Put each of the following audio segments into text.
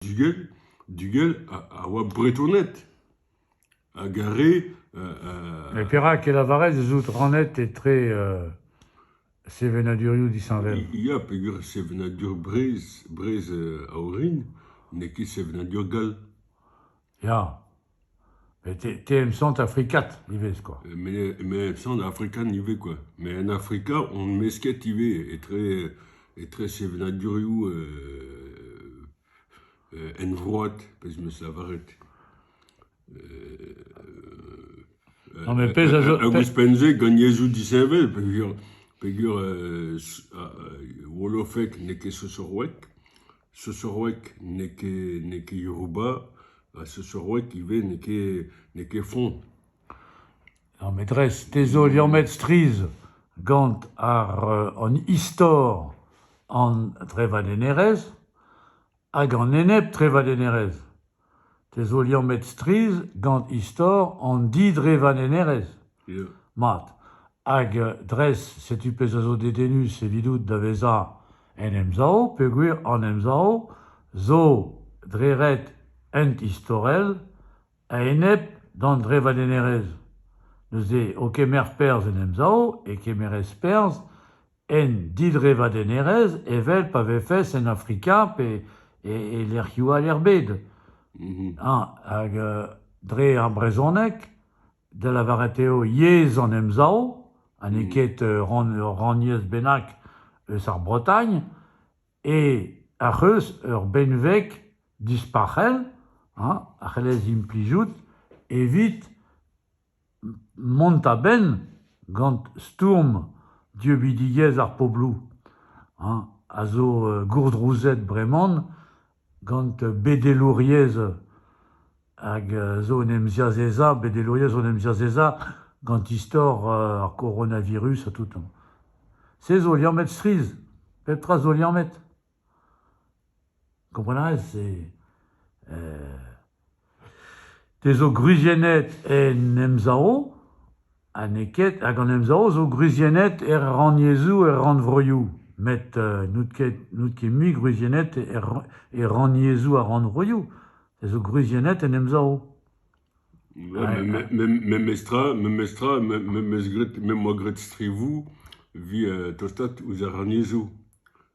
Dugel, Dugel a oa Bretoned hag ar re... Met perak e lavarez ez out rannet etre sevenadurioù disheñvel? Ya, peogwir sevenadur Breizh, Breizh a orin, n'eo ket sevenadur gall. Ya. Te em sant afrikat ivez kwa. Me em sant afrikat ivez kwa. Met en Afrika on mesket ivez etre etre sevenadurioù henvroat pezh 'm eus lavaret. Non mais pezh a zo... Hag ouzhpenn-se gant yezhoù disheñvel peogwir peogwir Wolofek n'eo ket Sosorwek. Seusseroeg n'eo ket n'eo ket Yoruba ha seusseroeg ivez n'eo ket n'eo ket foñs. Ar metrez, te zo liammet strizh gant ar an istor an trevadennerezh hag an enep-trevadennerezh. Te zo liammet strizh gant istor an didrevadennerezh, mat, hag dres setu pezh a zo dedennus evidout da vezañ en Emsav peogwir an Emsav zo dre ret ent-istorel a-enep d'an drevadennerezh. Neuze, o kemer perzh en Emsav, e kemerez perzh En didrevadennerezh evel pa vefes en Afrika pe e lec'hioù all er bed. Hag dre ar brezhoneg, da lavaret eo yezh an Emsav ha n'eo ket ur rannyezh bennak eus ar Bretagne, ac'h eus ur benveg dispac'hel a c'hellez implijout evit Mont a-benn gant stourm dieubidigezh ar pobloù a zo gourdrouzet breman gant bedelouriezh hag zo en em ziazezañ, bedelouriezh zo en em ziazezañ gant istor ar coronavirus ha tout. Se zo liammet strizh. Pep tra zo liammet. Komprenez e te zo gwriziennet en emzao ha n'eo ket hag an emzao zo gwriziennet er rannyezhoù, er rannvroioù met n'out ket n'out ket mui gwriziennet er e rannyezhoù ha rannvroioù, te zo gwriziennet en emzao. Memestra memestra me 'meus graet me 'moa graet strivoù 'vi tostaat ouzh ar rannyezhoù.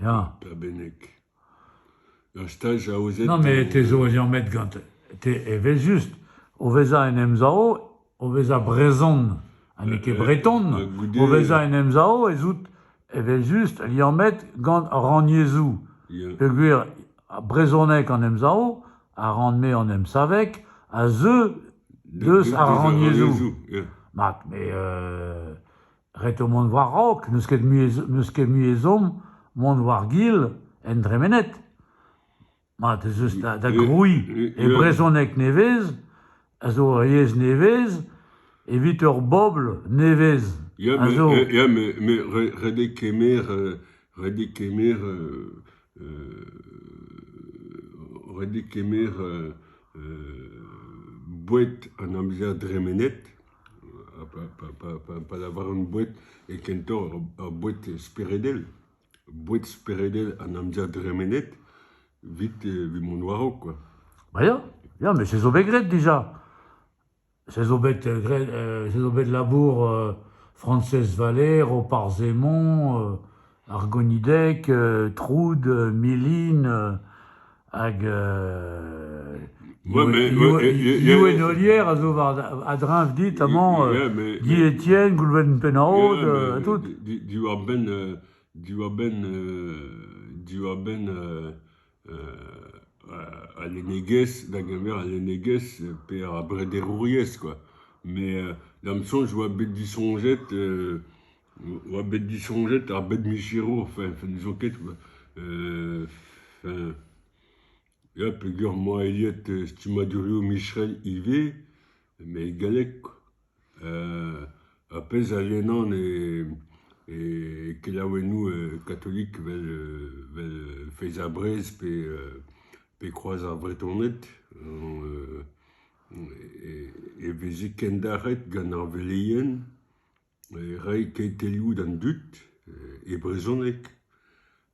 Ya. Da bennek. Ur staj aozet... Non, mais te zo ur met gant... Te evel-just. O vezañ en Emsav, o vezañ brezhon ha n'eo ket breton, o vezañ en Emsav ez out evel-just liañ met gant ar rannyezhoù. Peogwir brezhoneg an Emsav a ran-me an emsaveg a zeu deus ar rannyezhoù. Ma, mais... Ret eo mont war-raok, n'eus ket mui n'eus ket mui ezhomm mont war-gil en dremened. Mat ez eus da, da grouiñ e brezhoneg nevez a zo ur yezh nevez evit ur bobl nevez a zo. Ya, met ret eo kemer ret eo kemer ret eo kemer boued an amzer dremenet. pa lavaran boued e kentoc'h ur boued speredel, boued speredel an amzer dremenet, evit evit mont war-raok kwa. Ya, ya met se zo bet graet dija, se zo bet graet se zo bet labour Frañsez Valer, Roparz Hemon, Ar gonideg troud, milin hag Iwenolier a zo a-dreñv dit amañ, Guy Etienne, Goulven Penraod ha tout. Diwar-benn diwar-benn diwar-benn al lennegezh, da geñver al lennegezh pe ar brederouriezh kwa, met da'm soñj oa bet disoñjet oa bet disoñjet ar bed-micherour enfin n'zo ket enfin ya peogwir 'moa aet stummadurioù micherel ivez, met e galleg quoi. Ar pezh a yenan e kelaouennoù katolik evel evel Feiz ha Brez pe pe Kroaz ar Vretoned e veze kendalc'het gant ar veleien reiñ kentelioù d'an dud e brezhoneg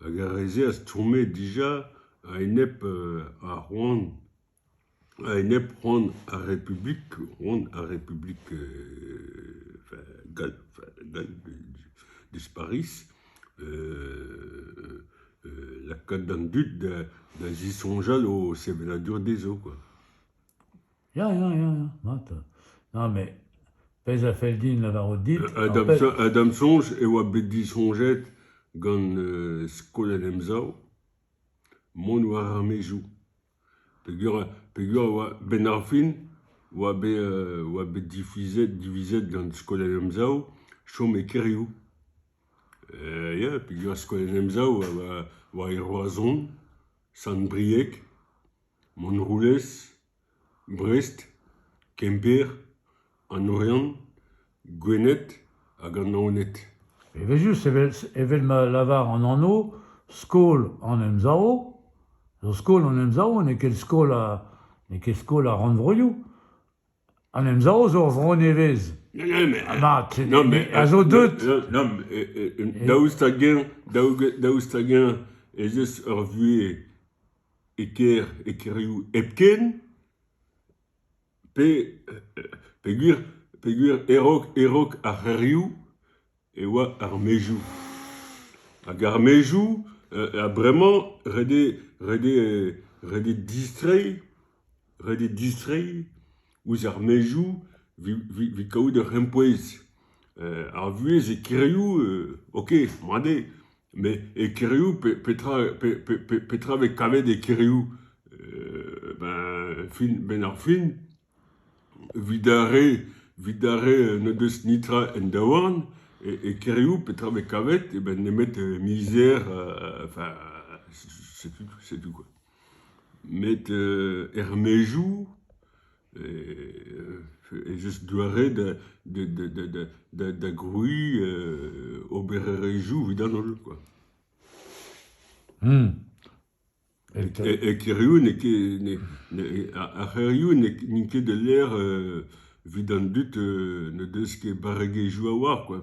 hag ar re-se a stourme dija a-enep ar c'hoant A-enep c'hoant ar Republik, c'hoant ar Republik gall dispariz lakaat an dud da zisoñjal o sevenadur dezho kwa. Ya ya ya ya mat. Na met pezh a fell din lavarout dit... Ha da'm soñj e oa bet disoñjet gant skol an Emsav mont war ar maezioù. peogwir e oa a-benn ar fin e oa bet e oa bet divizet divizet gant skol en emsav chom e kêrioù. Ya peogwir skol en emsav a oa war e Roazhon, Sant-Brieg, Montroulez, Brest, Kemper, an Oriant. Gwened hag an Naoned. Evel-just, evel ma lavar an anv, skol an Emsav zo skol an Emsav, n'eo ket skol n'eo ket skol ar rannvroioù. An Emsav zo ur vro nevez. Ya, ya, met... Ha mat, a zo deut. Non, daoust hag-eñ, daoust hag-eñ ez eus ur vuhez e kêr, e kêrioù hepken, peogwir peogwir e-raok ar c'hêrioù e oa ar maezioù hag ar maezioù ha bremañ ret eo ret eo ret eo distreiñ ret eo distreiñ ouzh ar maezioù evit kaout ur c'hempouez ar vuhez e kêrioù ok mat eo Met e kêrioù, pe- petra, pe- pe- pe- petra vez kavet e kêrioù ben fin, benn ar fin, evit ar re, evit ar re n'o deus netra en daouarn, e e kêrioù petra vez kavet eo bet nemet mizer enfin setu, setu quoi. Met er maezioù, ez eus doare da da da da grouiñ obererezhioù evit an holl kwa. E kêrioù n'eo ket ar c'hêrioù n'int ket ul lec'h evit an dud n'o deus ket barregezhioù a-walc'h kwa.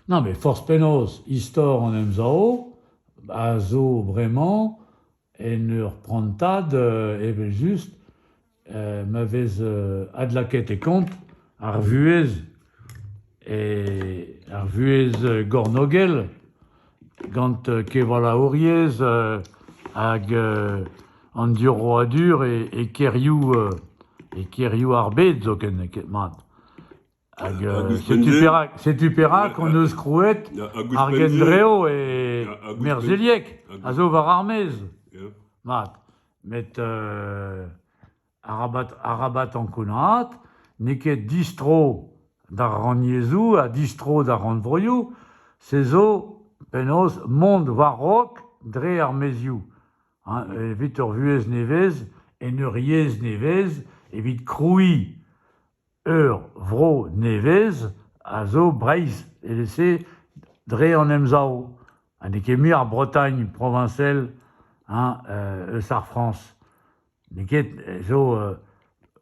Non, met forzh penaos, istor an Emsav a zo bremañ En ur prantad evel-just ma vez adlakaet e kont ar vuhez, ar vuhez gornôgel gant kevalaouriezh hag an diorroadur e kêrioù e kêrioù ar bed zoken ket mat. Hag, euh, setu perak, setu perak hon eus krouet ar gendrev e Merzeliek, a zo war ar maez. Mat. Met euh, arabat, arabat ankounaat, n'eo ket distro d'ar rannyezhoù ha distro d'ar rannvroioù, se zo penaos mont war-raok dre ar maezioù. Hein, evit ur vuhez nevez, en ur yezh nevez, evit krouiñ Ur vro nevez a zo Breizh evel-se dre an Emsav ha n'eo ket mui ar Bretagne proviñsel eus ar Frañs. N'eo ket zo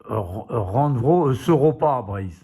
ur rannvro eus Europa Breizh.